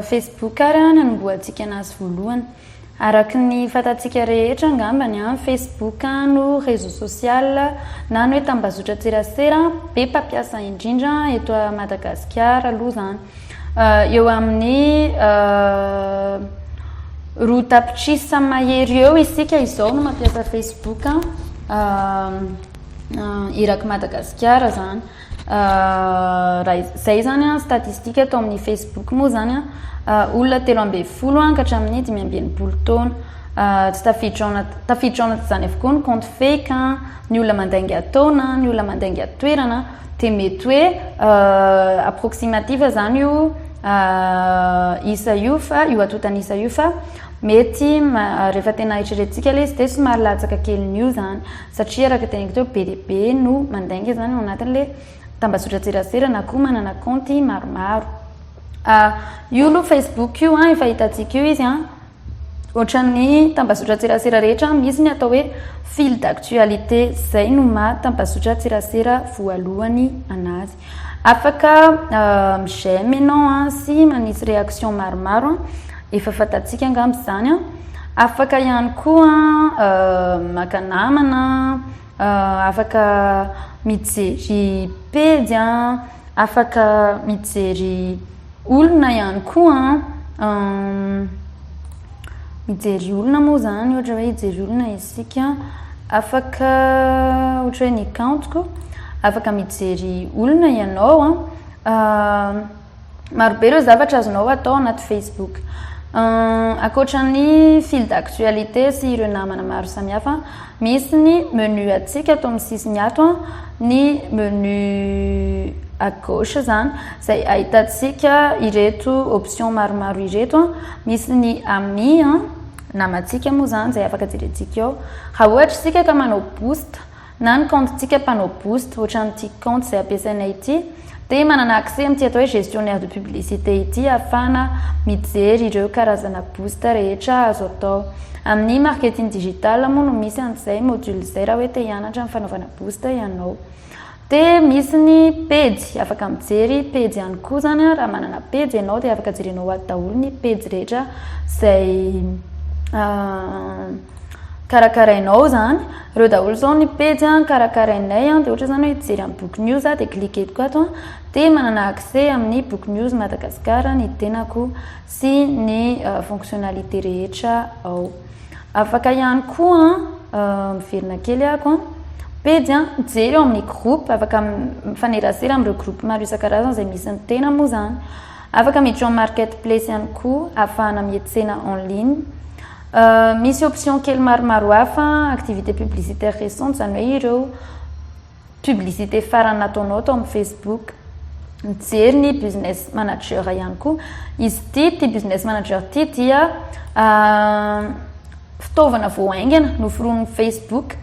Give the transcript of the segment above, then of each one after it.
Facebook ary an nanombohantsika anazy voalohany araka ny fatantsika rehetra angambany an Facebook no réseau social na ny hoe tambazotra tserasera be mpampiasa indrindra eto Madagasikara aloha zany Eo amin'ny roa tapitrisa mahery eo isika izao no mampiasa Facebook eraky Madagasikara izany. Izay izany an, statistika tao amin'ny Facebook moa izany an, olona telo ambin'ny folo an, ka hatramin'ny dimy ambin'ny enimpolo taona. Tsy tafiditra ao anaty, tafiditra ao anatin'izany avokoa ny compte fake an, ny olona mandainga taona, ny olona mandainga toerana. Dia mety hoe approximative zany io isa io fa io atotan'isa io fa mety rehefa tena eritreretintsika ilay izy dia somary latsaka kelin'io zany satria araka teneniko teo be dia be no mandainga zany ao anatin'ilay tambazotran-tserasera na koa manana kaonty maromaro. Io aloha facebook io an efa hitantsika io izy an. Ohatran'ny tambazotran-tserasera rehetra misy ny atao hoe fil d'actualité, izay no maha tambazotran-tserasera voalohany anazy. Afaka euh, mi-j'aime ianao an, sy manisy réaction maromaro an, efa fantatsika angamba izany an. Afaka ihany koa an, euh, maka namana, Afaka mijery pejy an, afaka mijery olona ihany koa an, mijery olona moa izany ohatra hoe hijery olona isika, afaka ohatra hoe ny kaontiko, afaka mijery olona ianao an. Marobe ireo zavatra azonao atao anaty Facebook. Ankoatra ny fil d'actualité sy ireo namana maro samihafa, misy ny menu antsika ato amin'ny sisiny ato, ny menu à gauche zany, izay ahitantsika ireto option maromaro ireto. Misy ny ami, namantsika moa izany izay afaka jerentsika eo. Raha ohatra isika ka manao boost. na ny compte tsika panneau boost ohatran ity compte izay ampiasainay ity dia manana accès amin'ity atao hoe gestionnaire de publicité ity ahafahana mijery ireo karazana boost rehetra azo atao amin'ny marketing digital moa no misy an'izay module izay raha hoe te hianatra ny fanaovana boost ianao dia misy ny pejy afaka mijery pejy ihany koa zany raha manana pejy ianao dia afaka jerenao ato daholo ny pejy rehetra izay ah, karakarainao zany reo daholo zao ny pejy an karakarainay an de ohatra zany hoe hijery amin'ny book news a de cliquetiko ato an de manana accès amin'ny book news Madagascar ny tenako sy ny euh, fonctionnalité rehetra ao afaka ihany koa an euh, miverina kely ako an pejy an mijery ao amin'ny groupe afaka mifanerasera amin'ireo groupe maro isan-karazany izay misy ny tena moa zany afaka miditra ao market place ihany koa afahana mihetsena en ligne Misy option kely maromaro hafa activités publicitaires récentes izany hoe ireo publicité farany nataonao tao amin'ny Facebook. Mijery ny business manager ihany koa. Izy ity, ity business manager ity dia fitaovana vao haingana noforonin'ny Facebook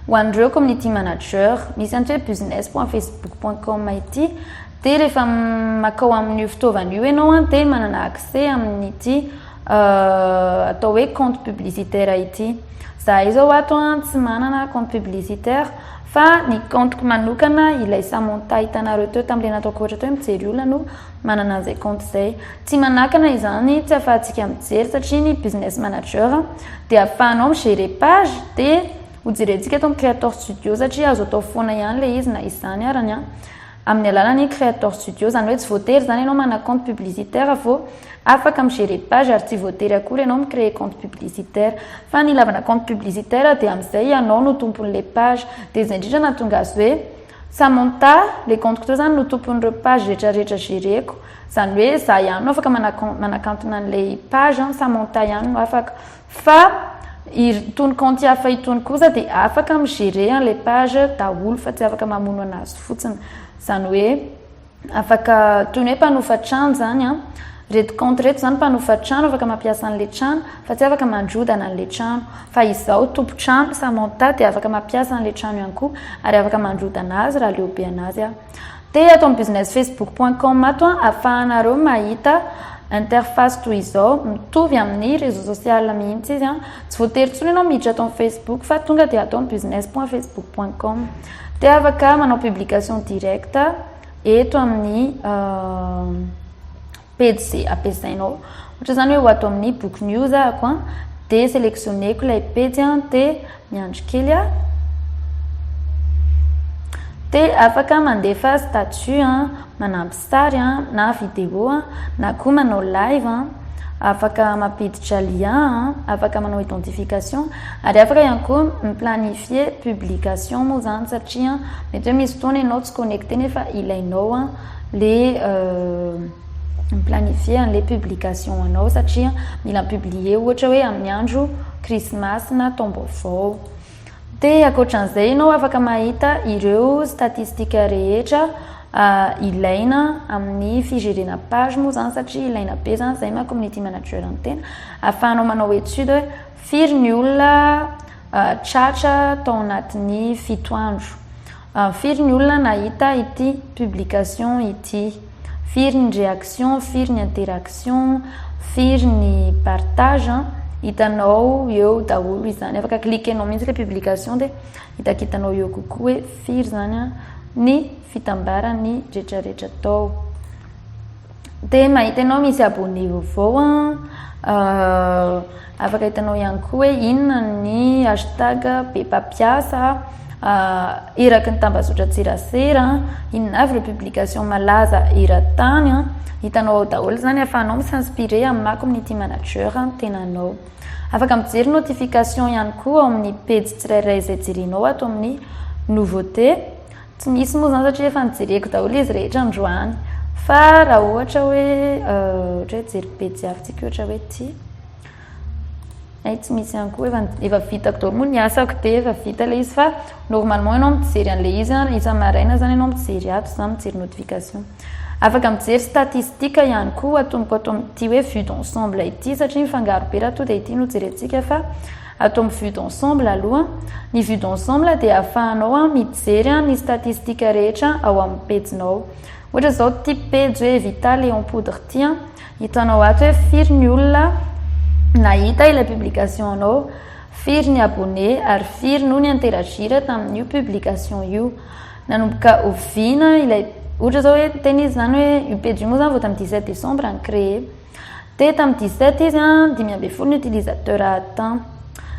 ho an'ireo community manager. Misy antsoy hoe business point facebook point com ity. Dia rehefa makao amin'io fitaovana io ianao an, dia manana accès amin'ity atao hoe compte publicitaire ity. Zahay izao ato an, tsy manana compte publicitaire fa ny compte-ko manokana ilay Samantha hitanareo teo tamin'ilay nataoko ohatra teo hoe mijery olona no manana an'izay compte izay. Tsy manakana izany, tsy ahafahantsika mijery satria ny business manager dia ahafahanao mi-gérer page dia hojerentsika eto amin'ny Creator Studio satria azo atao foana ihany ilay izy na izany arany an. amin'ny alalan'ny Creator Studio, izany hoe tsy voatery izany ianao manana compte publicitaire vao afaka mi-gérer page ary tsy voatery akory ianao mi-créer compte publicitaire. Fa ny ilavana compte publicitaire dia amin'izay ianao no tompon'ilay page. Dia izay indrindra no nahatonga azy hoe Samantha, ilay compte-ko teo izany no tompon'ireo page rehetrarehetra gérer-ko. Izany hoe izaho ihany no afaka manakantona an'ilay page, Samantha ihany no afaka. Fa itony kaonty hafa itony kosa dia afaka mi gerer an le page daholo fa tsy afaka mamono anazy fotsiny zany hoe afaka toy ny hoe mpanofa trano zany an reto kaonty reto zany mpanofa trano afaka mampiasa an le trano fa tsy afaka mandrodana an le trano fa izaho tompo trano samantha dia afaka mampiasa an le trano ihany koa ary afaka mandrodana azy raha leo be anazy aho Te ato amin'ny business facebook point com ato an, afahanareo mahita interface toy izao, mitovy amin'ny réseau social mihitsy izy an, tsy voatery intsony ianao miditra ato amin'ny facebook fa tonga dia ato amin'ny business point facebook point com. Te afaka manao publication directe eto amin'ny pejy izay ampiasainao. Ohatra izany hoe ho ato amin'ny book news ahako an, dia sélectionneko ilay pejy an, dia miandry kely aho. Dia afaka mandefa statut an, manampy sary an, na vidéo an, na koa manao live an, afaka mampiditra lien an, afaka manao identification, ary afaka ihany koa mi-planifier publication moa izany satria mety hoe misy fotoana ianao tsy connecté nefa ilainao an. le mi-planifier an'ilay publication anao satria mila mi-publier ohatra hoe amin'ny andro Christmas na taom-baovao. Dia ankoatran'izay ianao afaka mahita ireo statistika rehetra ah, ilaina amin'ny fijerena page moa izany satria ilaina be izany izay maha community manager ny tena ahafahanao manao étude hoe firy ny olona ah, tratra tao anatin'ny fito andro. Ah firy ny olona nahita ity publication ity? Firy ny reaction, firy ny interaction, firy ny partage an? Hitanao eo daholo izany, afaka cliquenao mihitsy ilay publication dia hitakitanao eo kokoa hoe firy izany an ny fitambaran'ny retraretra tao. Dia mahita ianao misy abonné vaovao an, afaka hitanao ihany koa hoe inona ny hashtag be mpampiasa, eraky ny tambazotran-tserasera, inona avy ireo publication malaza eran-tany an, hitanao ao daholo izany ahafahanao mi s'inspirer amin'ny maha community manager ny tenanao. Afaka mijery notification ihany koa ao amin'ny pejy tsirairay izay jerenao ato amin'ny nouveauté. Tsy misy moa izany satria efa nojereko daholo izy rehetra androany. Fa raha ohatra hoe ohatra hoe jery pejy hafa tsika ohatra hoe ity. Hay tsy misy ihany koa efa efa vitako daholo moa ny asako dia efa vita ilay izy fa normalement ianao mijery an'ilay izy an, isa-maraina izany ianao mijery ato izany mijery notification. Afaka mijery statistique ihany koa atomoko ato amin'ity hoe vue d'ensemble ity satria mifangaro be raha toa dia ity no jerentsika fa Atao ny vue d'ensemble aloha. Ny vue d'ensemble dia ahafahanao mijery ny statistique rehetra ao amin'ny pejinao. Ohatra izao ity pejy hoe Vita Léon Poudre ity, hitanao ato hoe firy ny olona nahita ilay publication anao, firy ny abonné ary firy no ni-interagir tamin'io publication io. Nanomboka oviana ilay, ohatra izao hoe, tena izy izany hoe io pejy io moa izany vao tamin'ny 17 décembre no créer. Dia tamin'ny dix sept izy an, dimy ambin'ny folo ny utilisateur temps.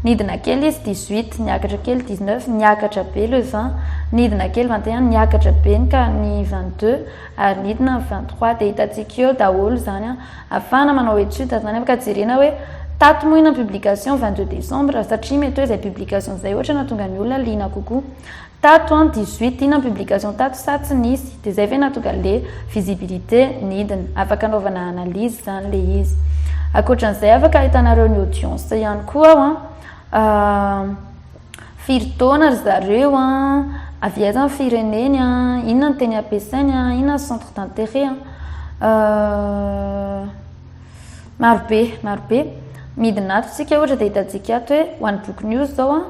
Nidina kely izy dix huit, niakatra kely dix neuf, niakatra be le vingt, nidina kely vingt et un, niakatra be ny ka ny vingt deux, ary nidina ny vingt trois. Dia hitantsika eo daholo izany an, afahana manao étude izany an, ka jerena hoe tato moa ina publication vingt deux décembre, satria mety hoe izay publication izay ohatra no nahatonga ny olona liana kokoa. Tato an, dix huit inona ny publication tato sa tsy nisy? Dia izay ve nahatonga le visibilité nidina? Afaka anaovana analyse izany le izy. Ankoatran'izay afaka ahitanareo ny audience ihany koa aho an. Firy taona ry zareo an, avy aiza ny fireneny an, inona ny teny ampiasainy an, inona ny centre d'intérêt an. Maro be, maro be. Midina ato isika ohatra dia hitantsika ato hoe ho an'ny boky News izao an,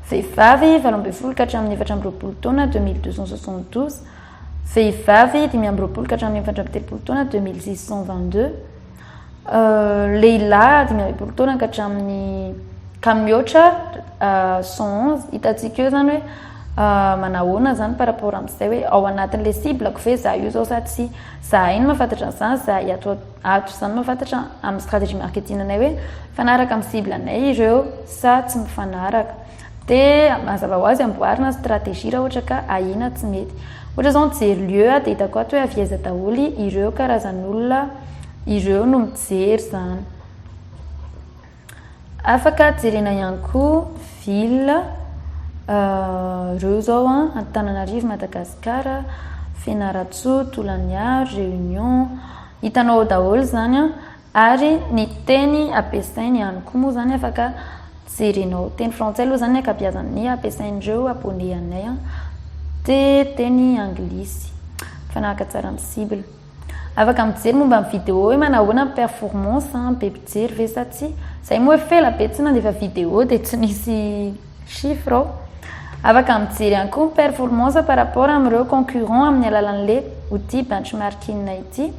vehivavy valo ambin'ny folo ka hatramin'ny efatra amby roapolo taona deux mille deux cent soixante douze, vehivavy dimy amby roapolo ka hatramin'ny efatra amby telopolo taona deux mille six cent vingt deux, lehilahy dimy amby roapolo taona ka hatramin'ny ka mihoatra cent onze. Hitantsika eo izany hoe manahoana izany par rapport amin'izay hoe ao anatin'ilay cible-ko ve izaho io izao sa tsia. Izahay no mahafantatra an'izany, izahay ato. Ato izany mahafantatra amin'ny stratégie marketing anay hoe mifanaraka amin'ny cible anay ireo sa tsy mifanaraka. Dia mazava ho azy amboarina stratégie raha ohatra ka ahiana tsy mety. Ohatra izao mijery lieu aho dia hitako ato hoe avy aiza daholo ireo karazan'olona ireo no mijery izany. Afaka jerena ihany koa ville reo zao an, Antananarivo, Madagascar, Fianarantsoa, Tolagnaro, Réunion, hitanao ao daholo izany an, ary ny teny ampiasainy ihany koa moa izany afaka jerenao, teny frantsay aloha izany ny ankabeazany, ny ampiasain'ireo abone anay dia teny anglisy, mifanahaka tsara amin'ny cible. Afaka mijery momba ny vidéo hoe manahoana ny performance an, be mpijery ve sa tsia. Zay moa efa ela be tsy nandefa vidéo dia tsy nisy chiffre aho. Afaka mijery ihany koa ny performance par rapport amin'ireo concurrents amin'ny alalan'ilay outil benchmarking ity.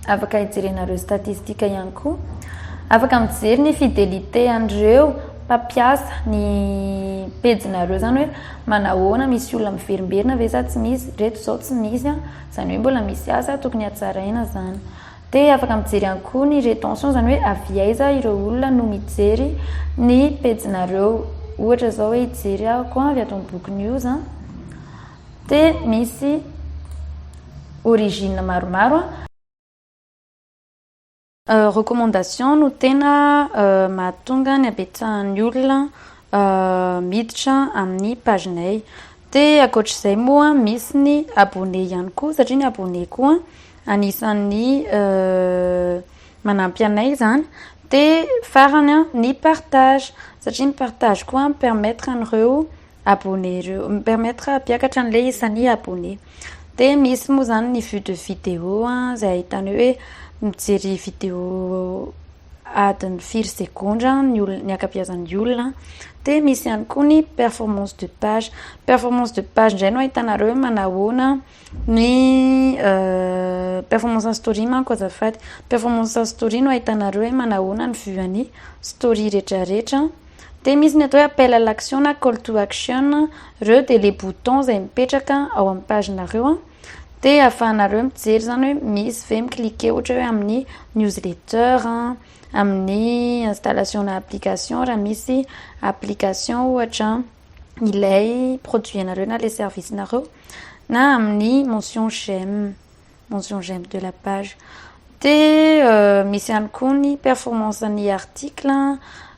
Afaka hijerenareo statistika ihany koa. Afaka mijery ny fidelite an'ireo mpampiasa ny pejinareo zany hoe manahoana misy olona miverimberina ve sa tsy misy reto zao tsy misy an zany hoe mbola misy asa tokony hatsaraina zany dia afaka mijery ihany koa ny retention zany hoe avy aiza ireo olona no mijery ny pejinareo ohatra zao hoe hijery aho koa avy ato amin'ny boky news an Te misy origine maromaro an. Recommandation no tena mahatonga ny habetsahan'ny olona miditra amin'ny pagenay. Te ankoatr'izay moa misy ny abonné ihany koa satria ny abonné koa anisan'ny manampy anay izany. Te farany an ny partage satria ny partage koa mi-permettre an'ireo abonné ireo mi permettre hampiakatra an'ilay isan'ny abonné dia misy moa izany ny vue de vidéo izay ahitana hoe mijery vidéo adiny firy segondra ny olona ny ankabeazan'ny olona dia misy ihany koa ny performance de page performance de page indray no ahitanareo hoe manahoana Ny performance story manko azafady, performance story no ahitanareo hoe manahoana ny vue an'ny story retraretra, dia misy ny atao hoe appel à l'action na call to action, ireo dia le bouton izay mipetraka ao amin'ny page nareo dia ahafahanareo mijery izany hoe misy ve mi cliquer ohatra hoe amin'ny newsletter, amin'ny installation-na application raha misy application ohatra. ilay produit anareo na ilay service nareo na amin'ny mention j'aime mention j'aime de la page de euh, misy ihany koa ny performance ny article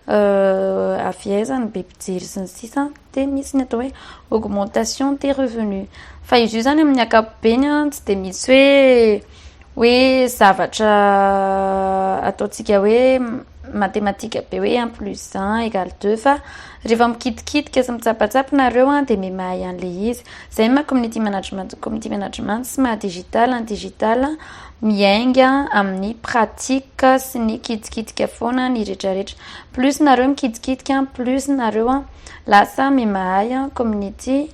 euh, avy aiza ny be mpijery sy ny sisa de misy ny atao hoe augmentation des revenus fa izy io zany amin'ny akapobeny a tsy de misy hoe hoe zavatra ataontsika hoe matematika be hoe un plus un égale deux fa rehefa mikitikitika sy mitsapatsapa nareo an dia mety mahay an'le izy zay ma community management community management sy maha digital ny digital miainga amin'ny pratique sy ny kitikitika foana ny retraretra plus nareo mikitikitika plus nareo an lasa mety mahay community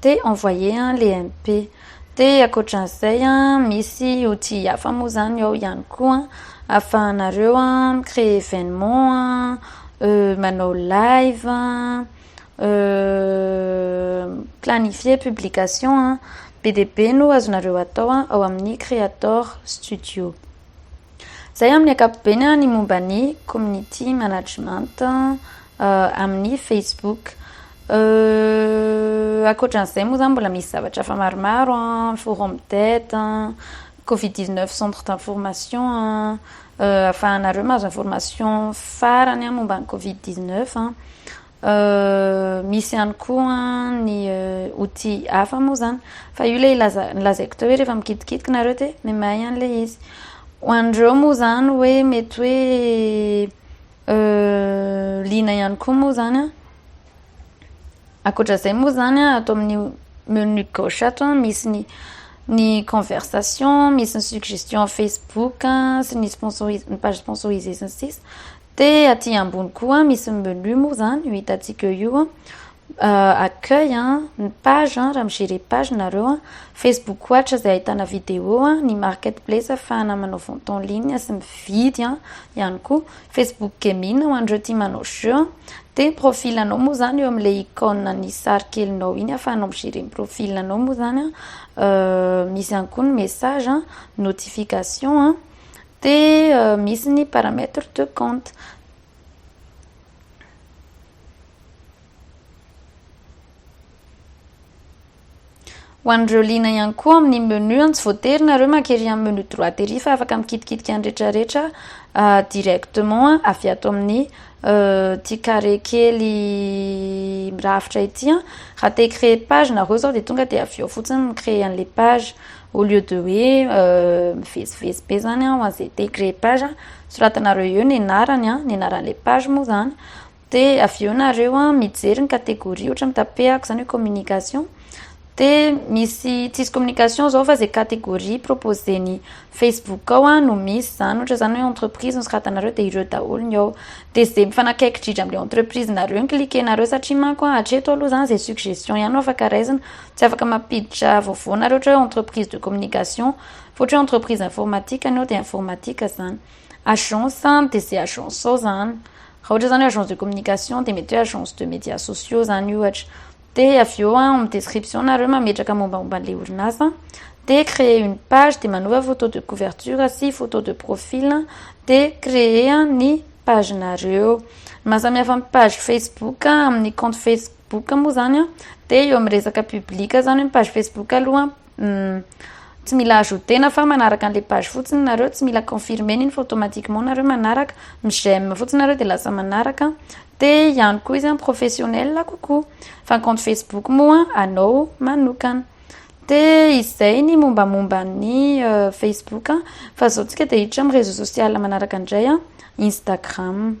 Te envoyer an le MP. De ankoatran'izay an, misy outils hafa moa zany ao ihany koa an, ahafahanareo an mi-creer événement an, manao live an, planifier publication an, be dia be no azonareo atao ao amin'ny Creator Studio. Izay amin'ny ankapobeny ny momba ny Community Management amin'ny Facebook. Ankoatra an'izay moa izany mbola misy zavatra hafa maromaro, forum d'aide, covid 19 centre d'information, ahafahanareo mahazo information farany momba ny covid 19. Misy ihany koa ny outils hafa moa izany. Fa io ilay nolazaiko teo hoe rehefa mikitikitiky nareo dia ny mahay an'ilay izy. Ho an'ireo moa izany hoe mety hoe liana ihany koa moa izany an, ankoatra izay moa izany an, ato amin'io menu gauche ato an, misy ny ny conversation, misy ny suggestion Facebook sy ny sponsoriser- ny page sponsorisée sy ny sisa. De aty ambony koa misy ny menu moa zany io hitantsika eo io an, accueil an, ny page an, raha mi-gerer page nareo an, facebook ohatra izay ahitana vidéo an, ny market place ahafahana manao vente en ligne sy mividy an, ihany koa, facebook gaming ho an'ireo tia manao jeux an, de ny profil anao moa zany eo amin'ilay icône an'ny sary kelinao iny ahafahanao mi-gerer ny profil anao moa zany an, misy ihany koa ny message an, notification an, Dia misy ny paramètre de compte. Ho an'ireo liana ihany koa amin'ny menu, tsy voatery nareo maka ery amin'ny menu droit ery fa afaka mikitikitiky an'i rehetrarehetra directement avy ato amin'ny Ity carré kely mirafitra ity an, raha te hi-créer page nareo zao dia tonga dia avy eo fotsiny mi-créer an'ilay page au lieu de hoe mivezivezy be zany an ho an'izay te hi-créer page an, soratanareo eo ny anarany an, ny anaran'ilay page moa zany, dia avy eo nareo mijery ny catégorie ohatra mitape ahy aho zany hoe communication, De misy tsisy communication zao fa ze categorie proposen'i Facebook ao a no misy zany ohatra zany hoe entreprise nosoratanareo de ireo daholo ny ao de ze mifanakaiky dridra amle entreprise nareo ny cliquenareo satria manko a hatreto aloha zany ze suggestion ihany no afaka raisina tsy afaka mampiditra vaovao nareo ohatra hoe entreprise de communication fa ohatra hoe entreprise informatique ny ao de informatique zany agence de ze agence ao zany raha ohatra zany hoe agence de communication de mety hoe agence de media sociaux zany ohatra Dia avy eo ao amin'ny description nareo mametraka mombamomba an'ilay orinasa, dia créer une page dia manova photo de couverture sy photo de profil dia créer ny page nareo. Ny mahasamihafa ny page Facebook amin'ny compte Facebook moa izany dia eo amin'ny resaka public izany hoe ny page Facebook aloha Humm. Tsy mila ajouter-na fa manaraka an'ilay page fotsiny nareo, tsy mila confirmer-na iny fa automatiquement nareo manaraka, mi j'aime fotsiny nareo dia lasa manaraka, dia ihany koa izy professionnel kokoa, fa ny compte facebook moa anao manokana. Dia izay ny mombamomba ny facebook, fa izao tsika dia hiditra amin'ny réseau social manaraka indray, instagram.